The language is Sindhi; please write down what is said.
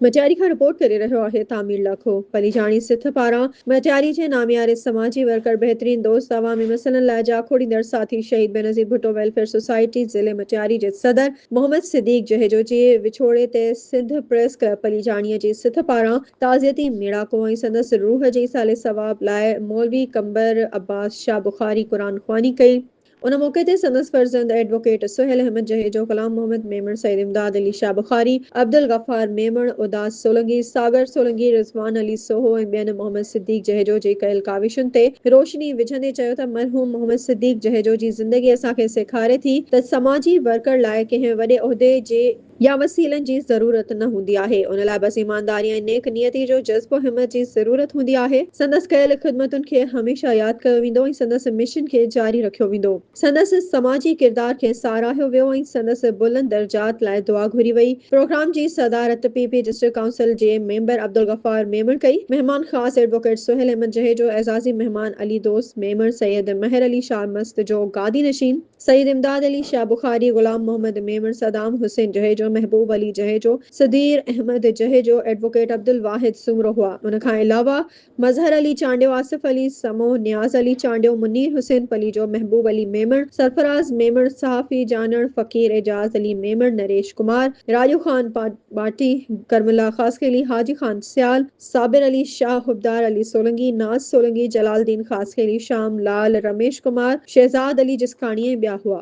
مٽياري کان رپورٽ ڪري رهيو آهي تعمير لاکو پليجاڻي سٿ پاران مٽياري جي نامياري سماجي ورڪر بهترين دوست عوامي مسئلن لاء جاکوڙيندڙ ساٿي شهيد بينظير ڀٽو ويلفيئر سوسائٽي ضلعي مٽياري جي صدر محمد صديق جهيجو جي وڇوڙي تي سنڌ پريس ڪلب پليجاڻي جي سٿ پاران تعزيتي ميڙاڪو ۽ سندس روح جي ايصال ثواب لاء مولوي قمبر عباس شاهه بخاري قرآن خواني ڪئي ان موقعي تي سندس فرزند ايڊووڪيٽ سهيل احمد جهيجو، غلام محمد ميمڻ، سيد امداد علي شاهه بخاري، عبدالغفار ميمڻ، اداس سولنگي، ساگر سولنگي، رضوان علي سوهو ۽ ٻين محمد صديق جهيجو جي ڪيل ڪاوشن تي روشني وجهندي چيو ته مرحوم محمد صديق جهيجو جي زندگي اسان کي سيکاري ٿي ته سماجي ورڪر لاء ڪنهن وڏي عهدي جي يا وسيلن جي ضرورت نه هوندي آهي، ان لاء بس ايمانداري ۽ نيڪ نيتي جو جذبو ۽ همت جي ضرورت هوندي آهي. سندس ڪيل خدمتن کي هميشه ياد ڪيو ويندو ۽ سندس مشن کي جاري رکيو ويندو. سندس سماجي ڪردار کي ساراهيو ويو ۽ سندس بلند درجات لاء دعا گهري وئي. پروگرام جي صدارت پي پي ڊسٽرڪٽ ڪائونسل جي ميمبر عبدالغفار ميمڻ ڪئي. مهمان خاص ايڊووڪيٽ سهيل احمد جهيجو، اعزازي مهمان علي دوست ميمڻ، سيد مهر علي شاهه مست جو گادي نشين، سيد امداد علي شاهه بخاري، غلام محمد ميمڻ، صدام حسين جهيجو، محبوب علي جهيجو، سڌير احمد جهيجو، ايڊووڪيٽ عبدالواحد سومرو هئا. ان کان علاوه مظهر علي چانڊيو، آصف علي سمون، نياز علي چانڊيو، منير حسين پليجو، محبوب علي ميمڻ، سرفراز ميمڻ، صحافي جانڻ، فقير اعجاز علي ميمڻ، نريش ڪمار، راڄو خان ٻاٽي، ڪرم الله خاصخيلي، حاجي خان سيال، صابر علي شاهه، حبدار علي سولنگي، ناز سولنگي، جلال الدين خاصخيلي، شام لال، رميش ڪمار، شهزاد علي جسڪاڻي ۽ ٻيا هئا.